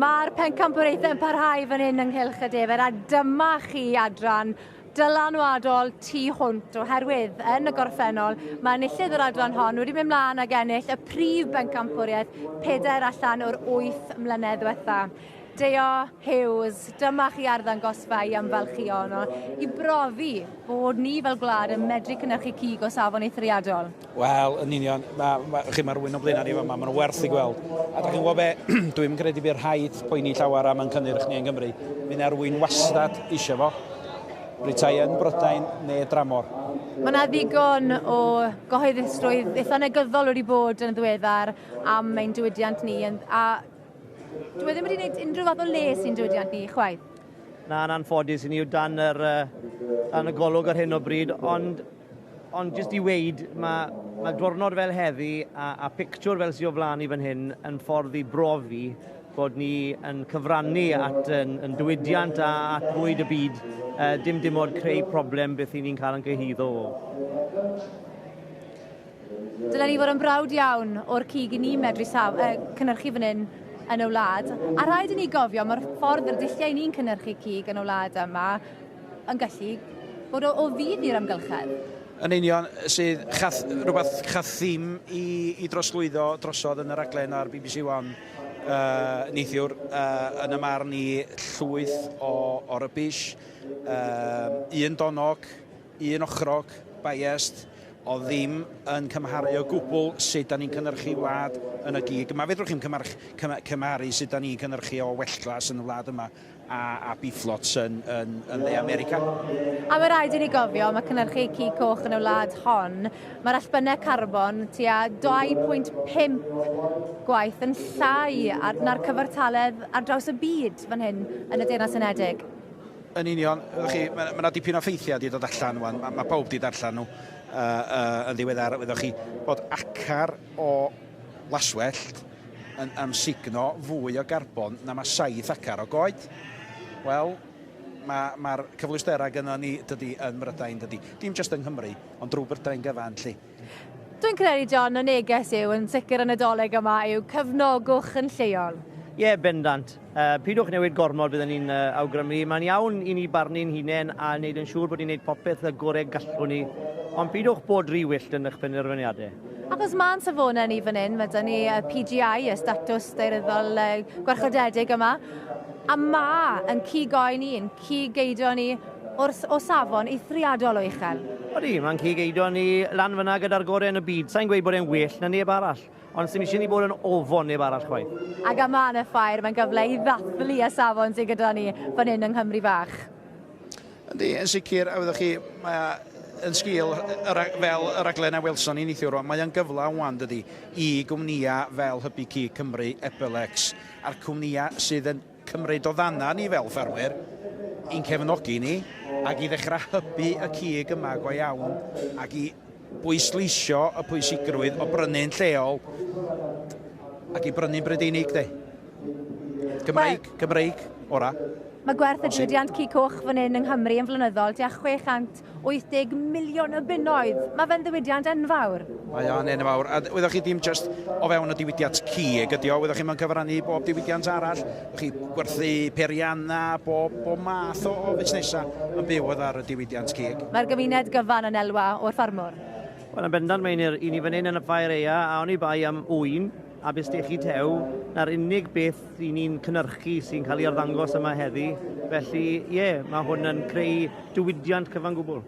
Mae'r pencampwriaethau yn parhau fan hyn ynghylch y defer a dyma chi adran dylanwadol tu hwnt oherwydd yn y gorffennol mae enillydd yr adran hon wedi mynd mlaen ag ennill y prif bencampwriaeth pedair allan o'r wyth mlynedd diwetha. Deo Hughes, dyma chi arddangosfa i ymfalchio yno, i brofi bod ni fel gwlad yn medru cynnyrchu cig o safon eithriadol. Wel, yn union, mae, ma, chi mae'r wyn o blaenau ni fama, mae'n werth i gweld. A da chi'n gwybod be, dwi'n credu bydd rhaid poeni llawer am yn cynnyrch ni yn Gymru. Mae yna'r wyn wastad eisiau fo, rytai yn Brydain neu dramor. Mae yna ddigon o gyhoeddusrwydd eitha negyddol wedi bod yn ddiweddar am ein diwydiant ni, a Dwi ddim wedi gwneud unrhyw fath o les i'n diwydiant ni, chwaith. Na, yn anffodus, i ni yw dan, yr, dan y golwg ar hyn o bryd, ond, ond jyst i weid, mae, mae dwrnod fel heddi a, a pictiwr fel sy'n o flaen i fan hyn yn ffordd i brofi bod ni yn cyfrannu at yn, yn diwydiant a at fwyd y byd, uh, dim dim ond creu problem beth i ni'n cael yn gyhyddo o. Dylen ni fod yn brawd iawn o'r cig i ni'n medru saf, uh, cynnyrchu fan hyn yn y wlad. A rhaid i ni gofio mae'r ffordd yr dulliau ni'n cynnyrchu cig yn y wlad yma yn gallu bod o, o fydd i'r amgylchedd. Yn union, sydd chath, rhywbeth chath ddim i, i droslwyddo drosodd yn y raglen ar BBC One uh, neithiwr, uh, yn y marn i llwyth o, o rybys, uh, un donog, un ochrog, biased, oedd ddim yn cymharu o gwbl sut da ni'n cynhyrchu wlad yn y gig yma. Fedrwch chi'm cymharu, cymharu sut da ni'n cynhyrchu o welltglas yn y wlad yma a, a biflots yn, yn, yn dde America. A mae rhaid i ni gofio, mae cynhyrchu cig coch yn y wlad hon, mae'r allbynnau carbon tua 2.5 gwaith yn llai na'r cyfartaledd ar draws y byd fan hyn yn y Deyrnas Unedig. Yn union. Wch chi, mae yna dipyn o ffeithiau wedi dod allan rwan. Mae, mae pawb wedi darllen nhw uh, uh, yn ddiweddar. Wyddoch chi bod acar o laswellt yn amsugno fwy o garbon na mae saith acar o goed. Wel, mae'r ma, ma cyfleusterau gyda ni dydy yn Mrydain dydy. Dim jyst yng Nghymru, ond drwy Brydain gyfan lle. Dwi'n credu, John, y neges yw, yn sicr y Nadolig yma, yw cefnogwch yn lleol. Ie, yeah, bendant. Uh, pidwch newid gormod byddwn ni'n uh, awgrymu. Mae'n iawn i ni barnu'n hunain a wneud yn siŵr bod ni'n gwneud popeth y gorau gallwn ni, ond pidwch bod rhy wyllt yn eich penderfyniadau. Ac os mae'n safonau ni fan hyn, mae dyn ni y PGI, y statws deiryddol gwarchodedig yma, a ma yn cigoen i'n Cig geidon ni wrth o safon eithriadol o uchel. Odi, mae'n cig geidon ni lan fyna gyda'r gorau yn y byd. Sa i'n gweud bod e'n well na neb arall, ond sdim isie ni bod yn ofon neb arall chwaith. Ac am Mân y Ffair, mae'n gyfle i ddathlu y safon sydd gyda ni fan hyn yng Nghymru Fach. Yndi, yn sicr, a wyddoch chi, mae yn sgil fel y raglen a welson ni neithiwr rwan, mae o'n gyfle wan dydy i gwmnïau fel Hybu Cig Cymru, Epelex, a'r cwmnïau sydd yn cymryd o ddana ni fel ffermwyr, i'n cefnogi ni, ac i ddechrau hybu y cig yma go iawn, ac i bwysleisio y pwysigrwydd o brynu'n lleol, ac i brynu'n Brydeinig, de. Cymreig, Cymreig, ora. Mae gwerth y diwydiant cig coch fan hyn yng Nghymru yn flynyddol tua 600 80 miliwn o bunnoedd. Mae fe'n ddiwydiant enfawr. Mae o'n enfawr. A wyddoch chi ddim just o fewn y diwydiant cig ydy o, wyddoch chi mae'n cyfrannu i bob diwydiant arall. Wyddoch chi gwerthu perianna, bob, bob math o, o fusnesau yn byw oedd ar y diwydiant cig. Mae'r gymuned gyfan yn elwa o'r ffarmwr. Wel, yn bendant, Meinir. I ni fan hyn yn y Ffair Aea, a oni bai am ŵyn, a byst eich tew, na'r unig beth i ni'n cynnyrchu sy'n cael ei arddangos yma heddi. Felly, ie, yeah, mae hwn yn creu diwydiant cyfan gwbl.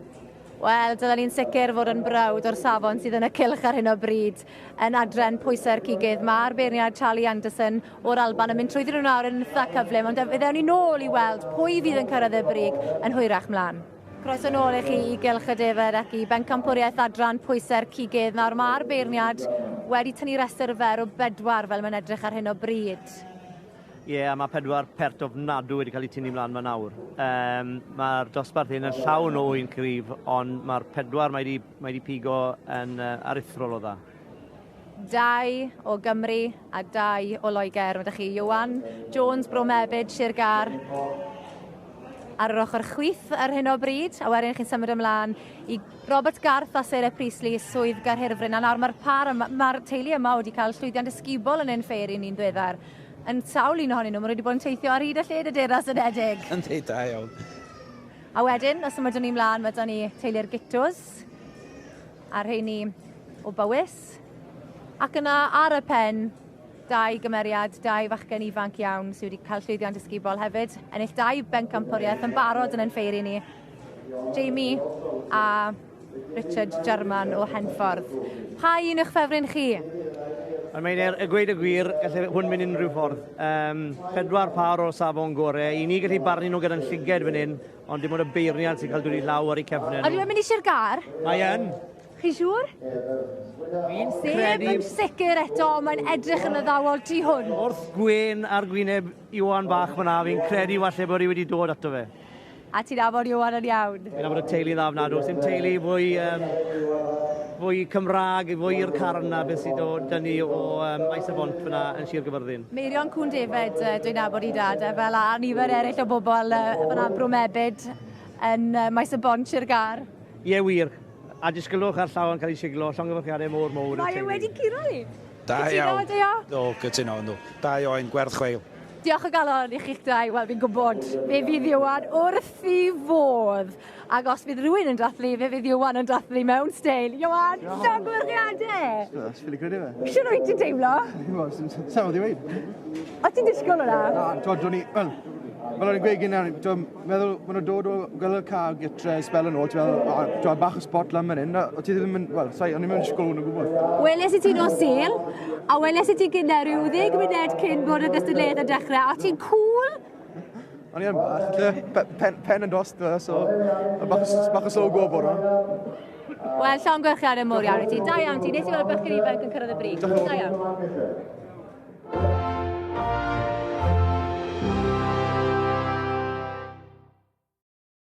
Wel, dylen ni'n sicr fod yn brawd o'r safon sydd yn y cylch ar hyn o bryd yn adren pwysau'r cigydd. Mae'r beirniad Charlie Anderson o'r Alban yn mynd trwy ddyn nhw'n awr yn eitha cyflym, ond fe ddewn ni nôl i weld pwy fydd yn cyrraedd y brig yn hwyrach mlaen. Croeso nôl i chi i Gylch y Defaid ac i Bencampwriaeth Adran Pwysau'r Cigydd. Nawr mae'r beirniad wedi tynnu rhestr fer o bedwar fel mae'n edrych ar hyn o bryd. Ie, yeah, mae pedwar pert ofnadw wedi cael eu tynnu mlaen yma nawr. Um, mae'r dosbarth hyn yn llawn o un cryf, ond mae'r pedwar mae wedi, mae wedi pigo yn uh, aruthrol o dda. Dau o Gymru a dau o Loegr. Mae da chi Iwan Jones, Bro Mebyd, Sir Gar ar yr ochr chwith ar hyn o bryd, a wedyn chi'n symud ymlaen i Robert Garth a Sarah Priestley, Swydd Garhirfryn, a nawr mae'r par, mae'r teulu yma wedi cael llwyddiant ysgubol yn ein ffeir i'n un dweddar. Yn sawl un ohonyn nhw, maen nhw wedi bod yn teithio ar hyd a lled y Deyrnas Unedig. Yn dweud da iawn. A wedyn, os ymwydwn ni mlaen, mae da ni teulu'r Gittos. a rheini o Bowys. Ac yna ar y pen, dau gymeriad, dau fachgen ifanc iawn sydd wedi cael llwyddiant ysgubol hefyd, ennill dau bencampwriaeth yn barod yn ein ffeir i ni. Jamie a Richard German o Henffordd. Pa un yw'ch ffefryn chi? Ond mae'n er, y gweud y gwir, gallai hwn mynd unrhyw ffordd. Um, pedwar pâr o safon gore. I ni gallu barnu nhw gyda'n llyged fan hyn, Ond dim ond y beirniad sy'n cael dod i law ar eu cefnau nhw. Ydyw e'n mynd i Sir Gar? Mae yn. Chi siŵr? Fi'n sef yn sicr eto, mae'n edrych yn addawol tu hwn. Wrth gwên ar gwyneb Iwan bach fyna, fi'n credu falle bod hi wedi dod ato fe. A ti'n afod Iwan yn iawn? Fi'n afod y teulu dda fna, does dim teulu fwy, um, fwy Cymraeg, fwy i'r carn na beth sydd o dynnu o um, Aes y Bont fyna yn Sir Gyfyrddin. Meirion Cŵn Defaid yy dwi'n nabod i dad e fel a nifer eraill o bobl yy fan 'na Bro Mebyd yn yy Maes y Bont Sir Gâr. Ie wir. A disgylwch ar llaw yn cael ei siglo, llongyfarchiadau mor mowr i'r teulu. Mae e wedi curo i! Da iawn. Cytuno ydw. Do, cytuno ydw. Da ioen, gwerth chweil. Diolch o galon i chi'ch dau, wel fi'n gwybod fe fydd Ieuan wrth 'i fodd! Ac os bydd rhywun yn dathlu, fe fydd Iwan yn dathlu mewn steil. Iwan, llongyfarchiadau! That's really good, isn't it? Siwr wyt ti'n teimlo? Sa'n oedd i weid. O ti'n disgwyl hwnna? Na, twod, o'n i, wel, Wel, o'n i'n gweud gynnau, dwi'n meddwl, maen nhw'n dod o gael y car gytre, spel yn ôl, ti'n meddwl, dwi'n bach o spot lan fan hyn, o ti ddim yn, wel, sai, o'n i'n mynd i sgol hwn o gwbl. Weles i ti nos sil, a weles i ti gynnau rhyw ddeg munud cyn bod y gystadleuaeth yn dechrau, a ti'n cool, O'n i yn bach, lle pen, pen yn dost, e, so bach, bach o slow go bora. Wel, Sean Gwerchiar yn mor iawn i ti. Da iawn ti, nes i weld bechgyn ifanc yn cyrraedd y brig. Da iawn.